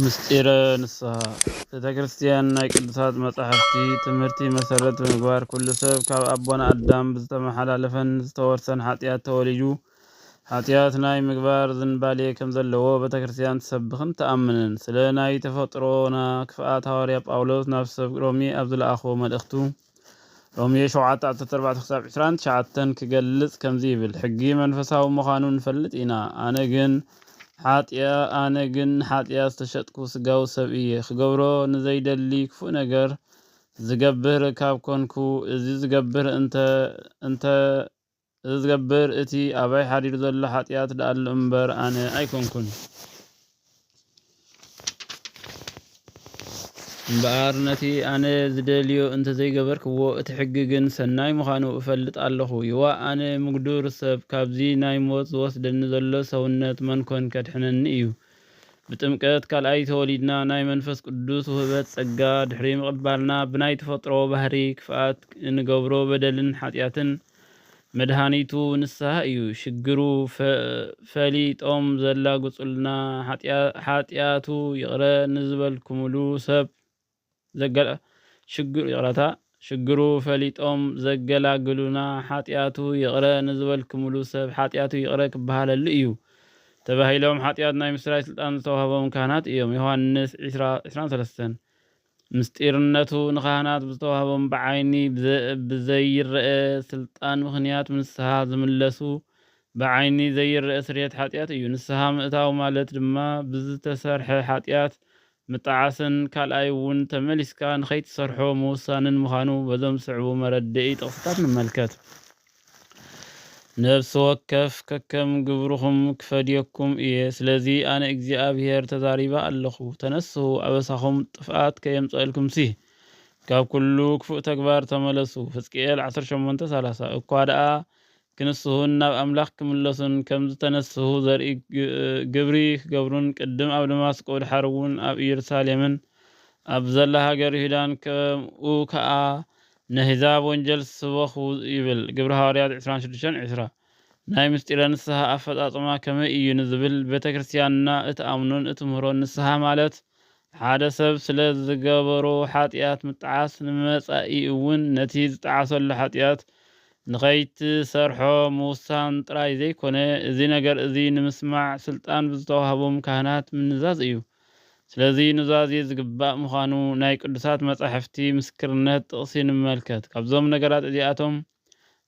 ምስጢረ ንስሃ ቤተ ክርስቲያን ናይ ቅዱሳት መጻሕፍቲ ትምህርቲ መሰረት ብምግባር ኩሉ ሰብ ካብ ኣቦና ኣዳም ብዝተመሓላለፈን ዝተወርሰን ሓጢኣት ተወሊዱ ሓጢኣት ናይ ምግባር ዝንባሌ ከም ዘለዎ ቤተ ክርስቲያን ትሰብኽን ትኣምንን። ስለ ናይ ተፈጥሮና ክፍኣት ሃዋርያ ጳውሎስ ናብ ሰብ ሮሜ ኣብ ዝለኣኾ መልእኽቱ ሮሜ ሸውዓተ ዓሰርተ ኣርባዕተ ክሳብ ዕስራን ትሽዓተን ክገልጽ ከምዚ ይብል፣ ሕጊ መንፈሳዊ ምዃኑ ንፈልጥ ኢና፣ ኣነ ግን ሓጢኣ ኣነ ግን ንሓጢኣ ዝተሸጥኩ ስጋዊ ሰብ እየ፣ ክገብሮ ንዘይደሊ ክፉእ ነገር ዝገብር ካብ ኮንኩ፣ እዚ ዝገብር እንተ እንተ እዚ ዝገብር እቲ ኣባይ ሓዲሩ ዘሎ ሓጥያት ደኣሉ እምበር ኣነ ኣይኮንኩን። እምበኣር ነቲ ኣነ ዝደልዮ እንተዘይገበርክዎ እቲ ሕጊ ግን ሰናይ ምዃኑ እፈልጥ ኣለኹ። ይዋእ ኣነ ምጉዱር ሰብ ካብዚ ናይ ሞት ዝወስደኒ ዘሎ ሰውነት መንኮን ከድሕነኒ እዩ። ብጥምቀት ካልኣይ ተወሊድና ናይ መንፈስ ቅዱስ ውህበት ጸጋ ድሕሪ ምቕባልና ብናይ ተፈጥሮ ባህሪ ክፍኣት እንገብሮ በደልን ሓጥያትን መድሃኒቱ ንስሃ እዩ ሽግሩ ፈሊጦም ዘላግጹልና ሓጥያቱ ይቅረ ንዝበልኩምሉ ሰብ ሽግሩ ይቅረታ ሽግሩ ፈሊጦም ዘገላግሉና ሓጥያቱ ይቅረ ንዝበልኩምሉ ሰብ ሓጥያቱ ይቅረ ክበሃለሉ እዩ ተባሂሎም ሓጥያት ናይ ምስራይ ስልጣን ዝተዋህቦም ካህናት እዮም ዮሐንስ ዕስራን ሰለስተን ምስጢርነቱ ንካህናት ብዝተዋህቦም ብዓይኒ ብዘይረኣ ስልጣን ምኽንያት ብንስሃ ዝምለሱ ብዓይኒ ዘይረኣ ስርየት ሓጢኣት እዩ። ንስሃ ምእታው ማለት ድማ ብዝተሰርሐ ሓጢኣት ምጥዓስን ካልኣይ እውን ተመሊስካ ንኸይትሰርሖ ምውሳንን ምዃኑ በዞም ዝስዕቡ መረደኢ ጥቕስታት ንመልከት። ነፍሲ ወከፍ ከከም ግብርኹም ክፈድየኩም እየ፣ ስለዚ ኣነ እግዚኣብሄር ተዛሪበ ኣለኹ። ተነስሑ፣ ኣበሳኹም ጥፍኣት ከየምጽኣልኩምሲ፣ ካብ ኵሉ ክፉእ ተግባር ተመለሱ። ሕዝቅኤል ዓሰርተ ሸሞንተ ሰላሳ እኳ ደኣ ክንስሁን ናብ ኣምላኽ ክምለሱን ከም ዝተነስሑ ዘርኢ ግብሪ ክገብሩን ቅድም ኣብ ደማስቆ ድሓርውን ኣብ ኢየሩሳሌምን ኣብ ዘላ ሃገር ይሁዳን ከምኡ ከኣ ነህዛብ ወንጀል ስበኹ ይብል ግብሪ ሃዋርያት ዕስራን ሽዱሽተን ዕስራ። ናይ ምስጢረ ንስሃ ኣፈጻጽማ ከመይ እዩ ንዝብል ቤተ ክርስቲያንና እትኣምኖን እትምህሮን ንስሃ ማለት ሓደ ሰብ ስለ ዝገበሮ ሓጥያት ምጣዓስ ንመጻኢ እውን ነቲ ዝጠዓሰሉ ሓጥያት ንኸይትሰርሖ ምውሳን ጥራይ ዘይኮነ እዚ ነገር እዚ ንምስማዕ ስልጣን ብዝተዋህቦም ካህናት ምንዛዝ እዩ። ስለዚ ኑዛዜ ዝግባእ ምዃኑ ናይ ቅዱሳት መጻሕፍቲ ምስክርነት ጥቕሲ ንመልከት። ካብዞም ነገራት እዚኣቶም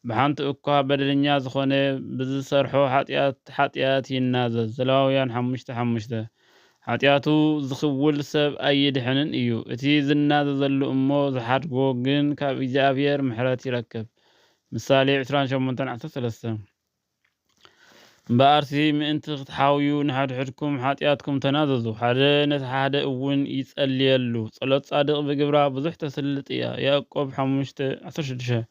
ብሓንቲ እኳ በደለኛ ዝኾነ ብዝሰርሖ ሓጢኣት ሓጢኣት ይናዘዝ፣ ዘለዋውያን ሓሙሽተ ሓሙሽተ። ሓጢኣቱ ዝኽውል ሰብ ኣይድሕንን እዩ፣ እቲ ዝናዘዘሉ እሞ ዝሓድጎ ግን ካብ እግዚኣብሔር ምሕረት ይረክብ፣ ምሳሌ ዕስራን ሸሞንተን ዓሰርተ ሰለስተ። እምበኣርሲ ምእንቲ ክትሓውዩ ንሓድሕድኩም ሓጢኣትኩም ተናዘዙ፣ ሓደ ነቲ ሓደ እውን ይጸልየሉ። ጸሎት ጻድቕ ብግብራ ብዙሕ ተስልጥ እያ፣ ያእቆብ ሓሙሽተ፣ ዓሰርተ ሽዱሽተ።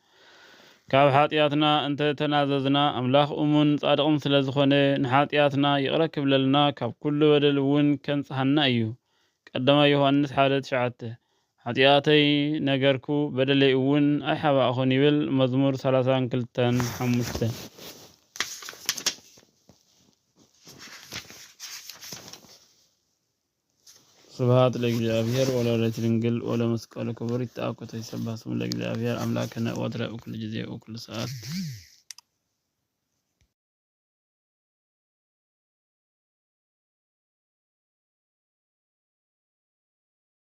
ካብ ሓጢኣትና እንተ ተናዘዝና፣ ኣምላኽ እሙንን ጻድቕን ስለ ዝዀነ፣ ንሓጢኣትና ይቕረ ክብለልና ካብ ኵሉ በደል እውን ከንጽሃና እዩ፣ ቀዳማይ ዮሃንስ ሓደ፣ ትሽዓተ። ሓጢኣተይ ነገርኩ፣ በደለይ እውን ኣይሓባእኹን ይብል፣ መዝሙር ሰላሳን ክልተን ሓሙሽተ። ስብሃት ለእግዚኣብሔር ወለወላዲቱ ድንግል ወለመስቀሉ ክቡር ይትአኮቶ ይሰባህ ስሙ ለእግዚኣብሔር አምላክነ ወትረ እኩሉ ጊዜ እኩሉ ሰዓት